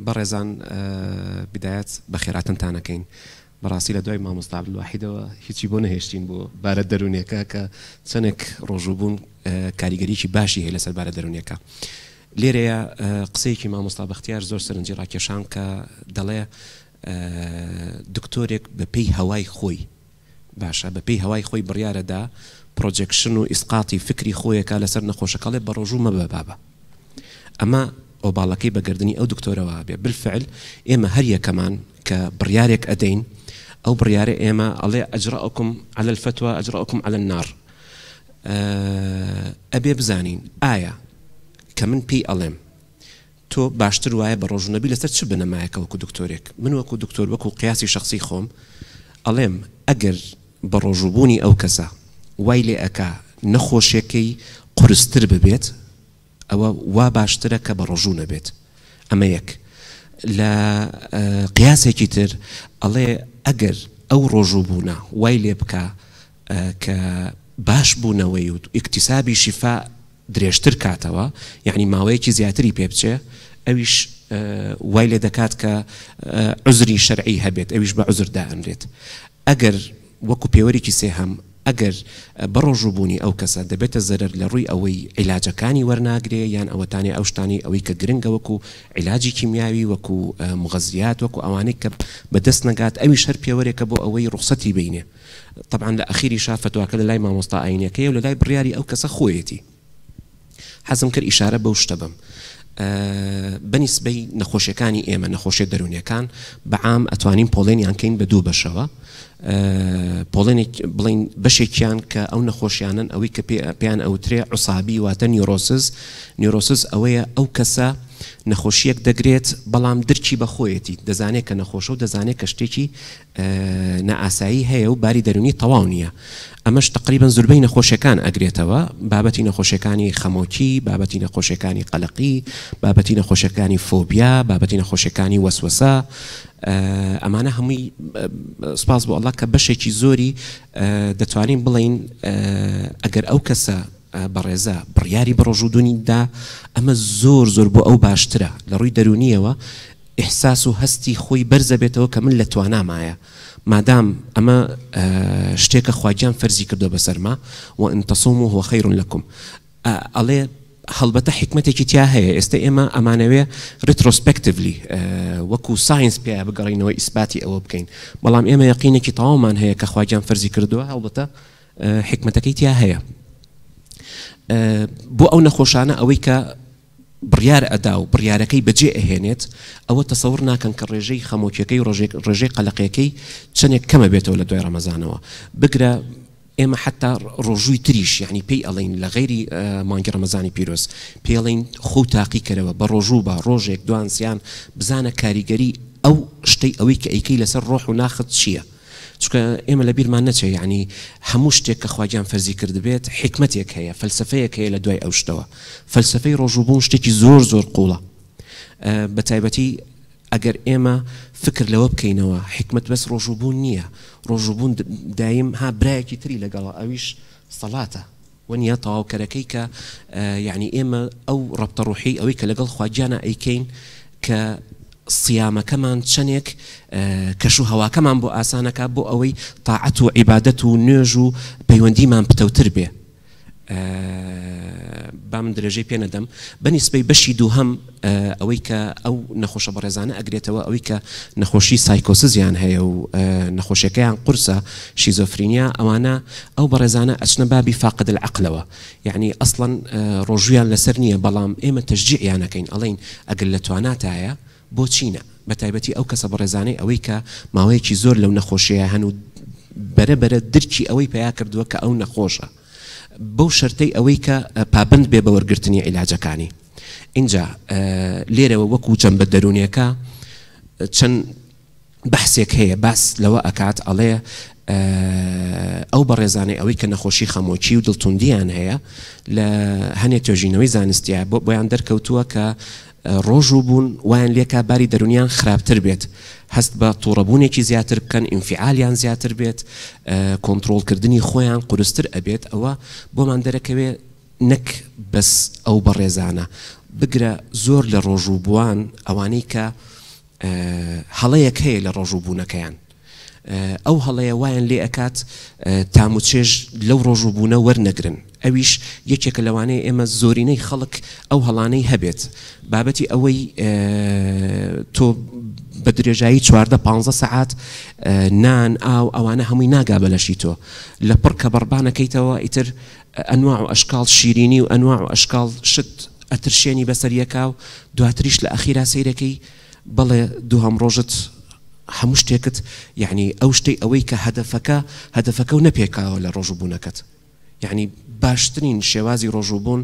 بەڕێزان بدایەت بەخێراتنتان ئەکەین بەڕاستی لە دوای مامۆستا عبدالواحیدەوە هیچی بۆ نەهێشتین بۆ بارە دەرونیەکە کە چەندێک ڕۆژوبوون کاریگەریکی باشی هەیە لەسەر بارە دەرونیەکە لێرەیە قسەیەکی مامۆستا بەختیار زۆر سەرنجی ڕاکێشان کە دەڵێ دکتۆرێک بەپی هەوای خۆی باشە بە پێی هەوای خۆی بڕیارە دا پڕۆجێکشن و ئیسقاتی فکری خۆێ کا لە سەر نەخۆشەکەڵێ بە ڕۆژوو مەبە بابە ئەمە ئۆباڵەکەی بە گەردنی ئەو دکتۆرەوە بێ بلفعل ئێمە هەر یەکەمان کە بڕیارێک ئەدەین ئەو بڕیارە ئێمە ئەڵێ ئەجڕەکم عەلە الفتوە ئەجڕەکم عەلە النار ئەبێ بزانین ئایا کە من پێی ئەڵێم تۆ باشتر وایە بە ڕۆژو نەبی لەسەر چ بنەمایەکە وەکو دکتۆرێک من وەکو دکتۆر وەکو قیاسی شەخسی خۆم ئەڵێم ئەگەر بە ڕۆژو بوونی ئەو کەسە وای لێ ئەکا نەخۆشێکەی قورستر ببێت ئەوە وا باشترە کە بە ڕۆژو نەبێت ئەمە یەک لە قیاسێکی تر ئەڵێ ئەگەر ئەو ڕۆژو بوونە وای لێ بکا ە کە باش بونەوەی و ئیکتیسابی شیفا درێژتر کاتەوە یەعنی ماوەیەکی زیاتری پێ بچێ ئەویش وای لێ دەکات کە عوزری شەرعی هەبێت ئەویش بە عوزر دائەنرێت ئەگەر وەکو پێوەرێکی سێهەم ئەگەر بە ڕۆژو بونی ئەو کەسە دەبێتە زەرەر لە ڕوی ئەوەی عیلاجەکانی وەرناگرێ یان ئەوەتانێ ئەو شتانەی ئەوەی کە گرنگە وەکو عیلاجی کیمیاوی وەکو موغەزیات وەکو ئەوانەی کە بە دەست نەگات ئەویش هەر پێوەرێکە بۆ ئەوەی ڕوخسەتی بینێ. تەبعەن لە ئەخیریشا فەتواکە لەلای مامۆستا ئاینیەکەیەو لەلای بڕیاری ئەو کەسە خۆیەتی حەزم کرد ئیشارە بەو شتە بەم بەنیسبەی نەخۆشیەکانی ئێمە نەخۆشیە دەرونیەکان بەعام ئەتوانین پۆڵێنیان کەین بە دوو بەشەوە پۆڵێنێک بڵین بەشێکیان کە ئەو نەخۆشیانن ئەوەی کە پێیان ئەوترێ عوسابی واتە نیۆرۆسز نیۆرۆسز ئەوەیە ئەو کەسە نەخۆشیەک دەگرێت بەڵام درکی بەخۆیەتی دەزانێت کە نەخۆشە و دەزانێت کە شتێکی نائاسایی هەیە و باری دەرونی تەواو نییە ئەمەش تەقریبەن زوربەی نەخۆشیەکان ئەگرێتەوە بابەتی نەخۆشیەکانی خەمۆکی بابەتی نەخۆشیەکانی قەلەقی بابەتی نەخۆشیەکانی فۆبیا بابەتی نەخۆشیەکانی وەسوەسە ئەمانە هەمووی سپاس بۆ ئەڵا کە بەشێکی زۆری دەتوانین بڵین ئەگەر ئەو کەسە بەڕێزە بڕیاری بڕۆژوودونی دا ئەمە زۆر زۆر بۆ ئەو باشترە لە ڕووی دەرونیەوە ئیحساس و هەستی خۆی بەرزەبێتەوە کە من لە توانامایە مادام ئەمە شتێکە خواگیان فەرزی کردوە بەسەرما و ان تصوموا هو خیر لکم ئەڵێ هەڵبەتە حکمتێکی تیا هەیە ئێستا ئێمە ئەمانەوێ ریترۆسپکتڤلی وەکو ساینس پێ بگەڕینەوە ئیسپاتی ئەوە بکەین بەڵام ئێمە یقینێکی تەواومان هەیە کە خواگیان فەرزی کردووە هەڵبەتە حکمتەکەی تیا هەیە بۆ ئەو نەخۆشانە ئەوەی کە بڕیار ئەدا و بڕیارەکەی بەجێ ئەهێنێت، ئەوە تەسەور ناکەن کە ڕێژەی خەمۆکیەکەی و ڕێژەی قەلەقێکەی چەنێک کەمە بێتەوە لە دوای ڕەمەزانەوە، بگرە ئێمە حەتا ڕۆژووی تریش یەعنی پێی ئەڵێین لە غەیری مانگی ڕەمەزانی پیرۆز پێی ئەڵێین خۆو تاقی کەرەوە بە ڕۆژوو بە ڕۆژێک دوان سیان بزانە کاریگەری ئەو شتەی ئەوەی کە ئەیکەی لەسەر ڕۆح و ناخت چیە، چونکە ئێمە لە بیرمان نەچێ یەعنی هەموو شتێک کە خواگیان فەرزی کردبێت حیکمەتێک هەیە فەلسەفەیەک هەیە لە دوای ئەو شتەوە فەلسەفەی ڕۆژووبوون شتێکی زۆر زۆر قوڵە بە تایبەتی ئەگەر ئێمە فکر لەوە بکەینەوە حیکمەت بەس ڕۆژووبوون نییە ڕۆژووبوون دایم ها برایەکی تری لەگەڵە ئەویش سەڵاتە وەنیە تەواوکەرەکەی کە یەعنی ئێمە ئەو ڕەبتە ڕوحی ئەوەی کە لەگەڵ خوا گیانا ئەیکەین کە صیامەکەمان چەنێک کەش و هەواکەمان بۆ ئاسانەکا بۆ ئەوەی تاعەت و عیبادەت و نوێژ و پەیوەندیمان پتەوتر بێ با من درێژەی پێ نەدەم بە نیسبەی بەشی دووهەم ئەوەی کە ئەو نەخۆشە بەڕێزانە ئەگرێتەوە ئەوەی کە نەخۆشی سایکۆسزیان هەیە و نەخۆشیەکەیان قورسە شیزۆفرینیا ئەوانە ئەو بەڕێزانە ئەچنە بابی فاقد العقلەوە یعنی ئەسڵەن ڕۆژویان لەسەر نییە بەڵام ئێمە تەشجیعیان ئەکەین ئەڵێین ئەگەر لە تواناتایە بۆچی نە بە تایبەتی ئەو کەسە بەڕێزانەی ئەوەی کە ماوەیەکی زۆر لەو نەخۆشیە هەن و بەرە بەرە درکی ئەوەی پەیا کردووە کە ئەو نەخۆشە بەو شەرتەی ئەوەی کە پابەند بێ بە وەرگرتنی عیلاجەکانی ئینجا لێرەوە وەکو جەمبە دەروونیەکە چەند بەحسێک هەیە باس لەوە ئەکات ئەڵێ ئەو بەڕێزانەی ئەوەی کە نەخۆشی خەمۆکی و دڵتوندیان هەیە لە هەنێ توێژینەوەی زانستیە بۆ بۆیان دەرکەوتووە کە ڕۆژوو بوون وایان لێکا باری دەرونیان خراپتر بێت هەست بە توڕەبوونێکی زیاتر بکەن ئینفیعالیان زیاتر بێت کۆنترۆڵ کردنی خۆیان قورستر ئەبێت ئەوە بۆمان دەرەکەوێ نەک بەس ئەو بەڕێزانە بگرە زۆر لە ڕۆژوو بووان ئەوانەی کە هەڵەیەک هەیە لە ڕۆژوو بوونەکەیان ئەو هەڵەیە وایان لێ ئەکات تام و چێژ لەو ڕۆژ و بوونە وەرنەگرن ئەویش یەکێکە لەوانەیە ئێمە زۆرینەی خەڵک ئەو هەڵانەی هەبێت بابەتی ئەوەی تۆ بە درێژایی چواردە پانزە سەعات نان ئاو ئەوانە هەمووی ناگا بەلەشی تۆ لە پڕ کە بەڕبانەکەیتەوە ئیتر ئەنواع و ئەشکال شیرینی و ئەنواع و ئەشکال شت ئەترشێنی بەسەریەکە و دواتریش لە ئەخیرا سیرەکەی بەڵێ دوهەم ڕۆژت هەموو شتێکت یەعنی ئەو شتەی ئەوەی کە هەدەفەکە هەدەفەکە و نەپێکاوە لە ڕۆژوو بوونەکەت یەعنی باشترین شێوازی ڕۆژوو بوون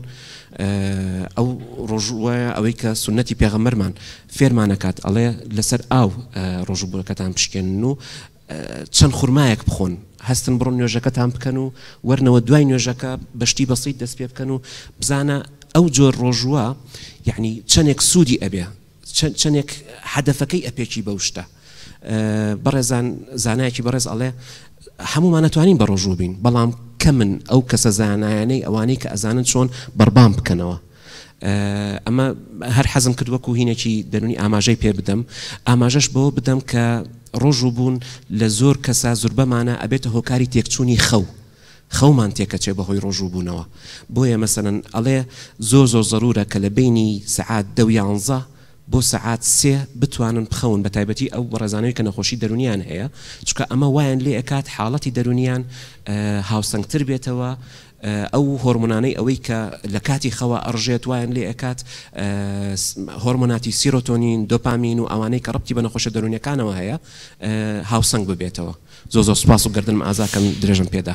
ئەو ڕۆژووە ئەوەی کە سنەتی پێغەمەرمان فێرمانەکات ئەڵێ لەسەر ئاو ڕۆژوو بوونەکەتان پشکێن و چەند خورمایەک بخۆن هەستن بڕۆن نوێژەکەتان بکەن و وەرنەوە دوای نوێژەکە بەشتی بەسیت دەست پێ بکەن و بزانە ئەو جۆر ڕۆژووە یعنی چەندێک سوودی ئەبێ چەندێک حەدەفەکەی ئەپێکی بەو شتە بەڕێزان زانایکی بەڕێز ئەڵێ هەمومان نتوانین بە ڕۆژوو بین بەڵام کە من ئەو کەسە زانایانەی ئەوانەی کە ئەزانن چۆن بەربام بکەنەوە ئەمە هەر حەزم کرد وەکو هینێکی دەرونی ئاماژەی پێ بدەم، ئاماژەش بەوە بدەم کە ڕۆژوو بوون لە زۆر کەسا زوربەمانە ئەبێتە هۆکاری تێکچونی خەو، خەومان تێکەچێ بەهۆی ڕۆژوو بوونەوە، بۆیە مەسەلەن ئەڵێ زۆر زۆر زەرورە کە لە بەینی سەعات دە و یانزە بۆ سەعات سێ بتوانن بخەون بە تایبەتی ئەو بەڕێزانەی کە نەخۆشی دەرونیان هەیە چونکە ئەمە وایان لێ ئەکات حاڵەتی دەرونیان هاوسەنگتر بێتەوە ئەو هۆرمۆنانەی ئەوەی کە لە کاتی خەوا ئەڕژێت وایان لێ ئەکات هۆرمۆناتی سیرۆتۆنین، دۆپامین و ئەوانەی کە ڕەبتی بە نەخۆشە دەروونیەکانەوە هەیە هاوسەنگ ببێتەوە. زۆر زۆر سوپاس و گەردنم ئازا کەن درێژەم پێدا.